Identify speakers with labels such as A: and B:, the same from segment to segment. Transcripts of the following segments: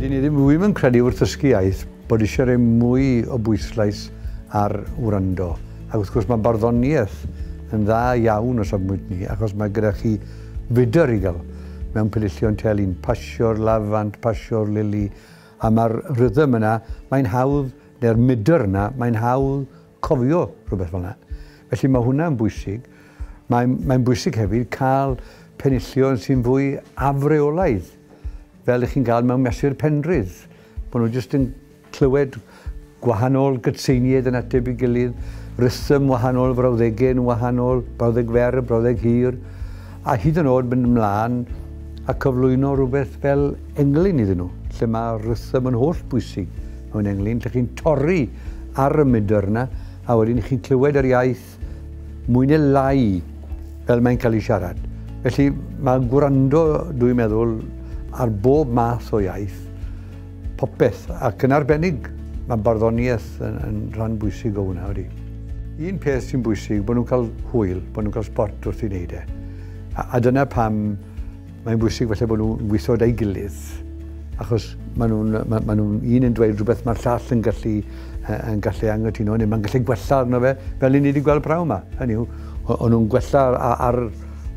A: Dyn ni ddim ddim yn credu wrth ddysgu iaith bod eisiau rhoi mwy o bwyslais ar wrando. Ac wrth gwrs mae barddoniaeth yn dda iawn o safmwynt ni achos mae gyda chi fudr i gael mewn pelillion telyn, pasio'r lafant, pasio'r lili a mae'r rhythm yna, mae'n hawdd, neu'r mudr yna, mae'n hawdd cofio rhywbeth fel yna. Felly mae hwnna'n bwysig. Mae'n mae bwysig hefyd cael penillion sy'n fwy afreolaidd fel chi'n cael mewn mesur Penrhydd, bod nhw jyst yn clywed gwahanol gytseiniaid yn ateb i gilydd, rhythm wahanol, frawddegau yn wahanol, brawddeg fer, brawddeg hir, a hyd yn oed mynd ymlaen a cyflwyno rhywbeth fel englyn iddyn nhw, lle mae rhythm yn holl bwysig mewn englyn, lle chi'n torri ar y mudr yna, a wedyn chi'n clywed yr iaith Cymraeg. Mwy neu lai fel mae'n cael ei siarad. Felly mae gwrando, dwi'n meddwl, ar bob math o iaith, popeth, ac yn arbennig, mae barddoniaeth yn, yn rhan bwysig o hwnna wedi. Un peth sy'n bwysig, bod nhw'n cael hwyl, bod nhw'n cael sport wrth ei wneud e. A, a dyna pam Mae'n bwysig falle bod nhw'n gweithio gyda'i gilydd, achos maen nhw'n ma, ma nhw un yn dweud rhywbeth mae'r llall yn gallu, yn gallu angytuno, neu mae'n gallu gwella arno fe, fel i ni wedi gweld prawn yma. Hynny yw, o'n nhw'n gwella ar, ar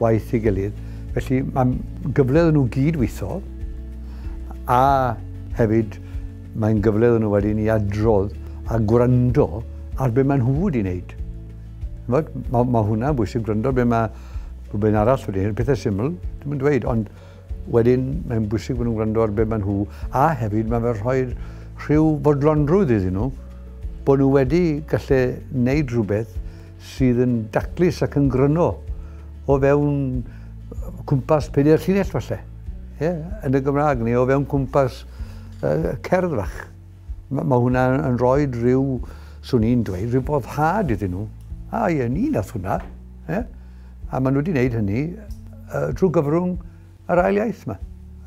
A: waith i gilydd. Felly mae'n gyfle iddyn nhw gyd weithio, a hefyd mae'n gyfle iddyn nhw wedyn i adrodd a gwrando ar beth maen nhw wedi wneud. Mae ma hwnna'n bwysig gwrando beth mae Rhywbeth arall wedi hyn, pethau syml, ddim yn dweud, ond wedyn mae'n bwysig bod nhw'n gwrando ar beth maen nhw, a hefyd mae fe'n rhoi rhyw fodlonrwydd iddyn nhw, bod nhw wedi gallu wneud rhywbeth sydd yn daclus ac yn gryno o fewn cwmpas pedair llinell falle, yeah, yn y Gymraeg, neu o fewn cwmpas uh, cerdd fach. Mae hwnna yn rhoi rhyw, swn i'n dweud, rhyw foddhad iddyn nhw. A ie, ni nath hwnna. Ie? A maen nhw wedi gwneud hynny uh, trwy gyfrwng yr ail iaith yma.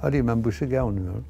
A: Ydy, mae'n bwysig iawn, i'n meddwl.